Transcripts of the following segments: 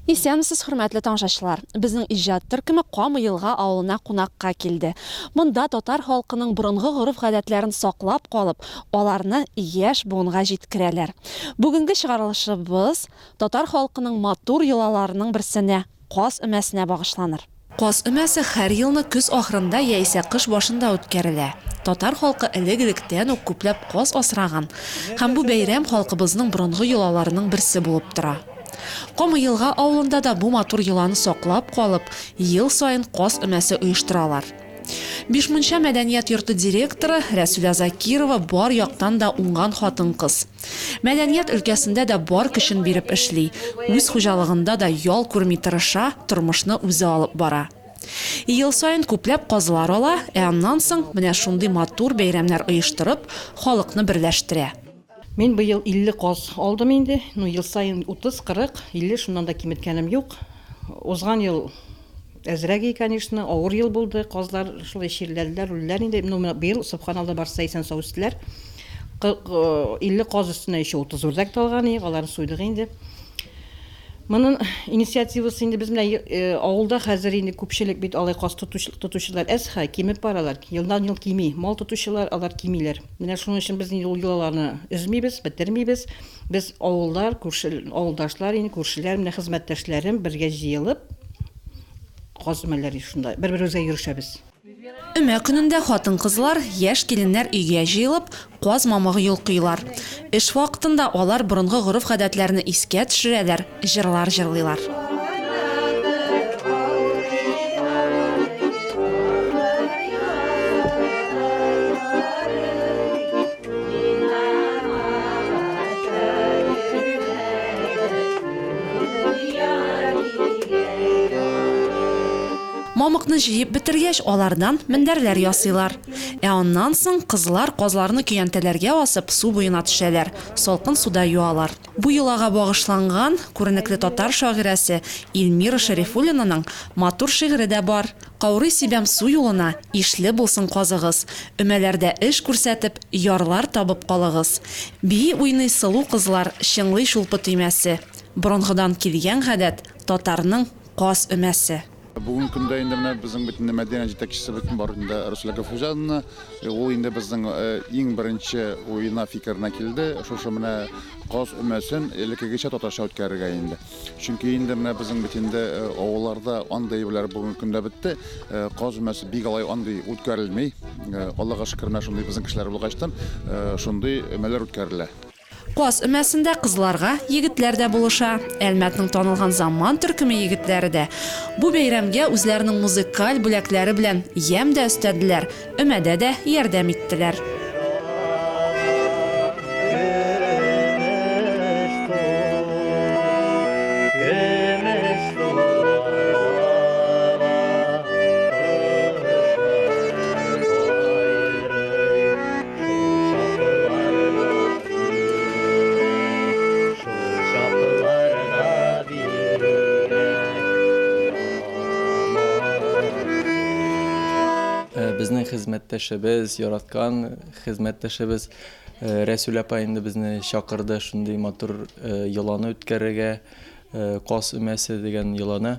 Исәнмесез, хөрмәтле тамашачылар. Безнең иҗат төркеме Камы елга авылына кунакка килде. Монда татар халкының борынгы гореф-гадәтләрен саклап калып, аларны яшь буынга җиткерәләр. Бүгенге чыгарылышыбыз Татар халкының матур йолаларының берсенә, Каз өмәсенә багышланыр. Каз өмәсе һәр елны көз ахырында яисә кыш башында үткәрелә. Татар халкы элек-электән үк күпләп каз асраган һәм бу бәйрәм халкыбызның борынгы йолаларының берсе булып тора. Камыелга авылында да бу матур йоланы саклап калып, ел саен каз өмәсе оештыралар. Бишмунча мәдәният йорты директоры Рәсүлә Закирова бар яктан да уңган хатын-кыз. Мәдәният өлкәсендә дә бар көчен биреп эшли, үз хуҗалыгында да ял күрми тырыша, тормышны үзе алып бара. Ел саен күпләп казлар ала, ә аннан соң менә шундый матур бәйрәмнәр оештырып, халыкны берләштерә. Мин быел 50 каз алдым инде, ну ел саен 30, 40, 50, шуннан да киметкәнем юк. Узган ел. Әзрәге канешны, авыр ел булды, казлар шулай чирләделәр, үлделәр инде, ну менә быел Субханалла барсы да исән-сау үстеләр. 50 каз өстенә еще 30 үрдәк талган иек, аларны суйдык инде. Монын инициативасы инде без менә авылда хәзер инде күпчелек бит алай каз тотучылар әз хә, кимеп баралар, елдан ел кими, мал тотучылар алар кимиләр. Менә шуның өчен без инде ул йолаларны өзмибез, бетермибез. Без авыллар, күрше авылдашлар, инде күршеләр, менә хезмәттәшләрем бергә җыелып, каз мәләри шунда, бер-беребезгә йөрешәбез. Өмә көнендә хатын-кызлар, яшь киленнәр өйгә җыелып, каз мамыгы йолкыйлар. Эш вакытында алар борынгы гореф-гадәтләрне искә төшерәләр. җырлар җырлыйлар. Мамыкны җыеп бетергәч, алардан мендәрләр ясыйлар. Ә аннан соң кызлар казларны көянтәләргә асып, су буена төшәләр, салкын суда юалар. Бу йолага багышланган күренекле татар шагыйрәсе Ильмира Шәрифуллинаның матур шигыре дә бар, Каурый сибәм су юлына, ишле булсын казыгыз, өмәләрдә эш күрсәтеп, ярлар табып калыгыз. Бии-уйный сылу кызлар, чыңлый чулпы төймәсе. Борынгыдан килгән гадәт, татарның каз өмәсе. Бүгенге көндә инде менә безнең бөтен мәдәният җитәкчесе бөтен бар инде Русля Гафуҗанна. Э, ул инде безнең э, иң беренче уена фикеренә килде. Шушы менә каз өмәсен элеккегечә татарча үткәрергә инде. Чөнки инде менә безнең бит инде э, авылларда андый әйберләр бүгенге көндә бетте. Каз өмәсе бик алай андый үткәрелми. Аллага шөкер, менә шундый безнең кешеләр булгачтан шундый өмәләр үткәрелә. Каз өмәсендә кызларга егетләр дә булыша. Әлмәтнең танылган Заман төркеме егетләре дә бу бәйрәмгә үзләренең музыкаль бүләкләре белән ямь дә өстәделәр, өмәдә дә ярдәм иттеләр. безнең хезмәттәшебез, яраткан хезмәттәшебез э, Рәсүл апа инде безне чакырды шундый матур э, йоланы үткәрергә, э, кас өмәсе дигән йоланы.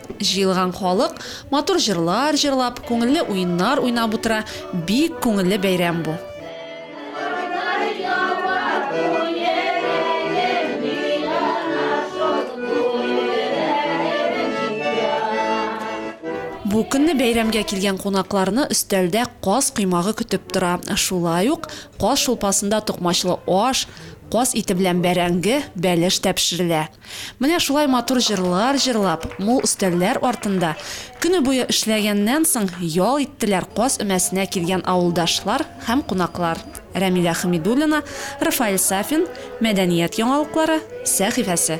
Җыелган халык матур җырлар җырлап, күңелле уеннар уйнап утыра, бик күңелле бәйрәм бу. Бу көнне бәйрәмгә килгән кунакларны өстәлдә каз коймагы көтеп тора, шулай ук каз шулпасында токмачлы аш, каз ите белән бәрәңге, бәлеш тә пешерелә. Менә шулай матур җырлар җырлап, мул өстәлләр артында көне буе эшләгәннән соң ял иттеләр Каз өмәсенә килгән авылдашлар һәм кунаклар. Рәмилә Хәмидуллина, Рафаэль Сафин, Мәдәният яңалыклары сәхифәсе.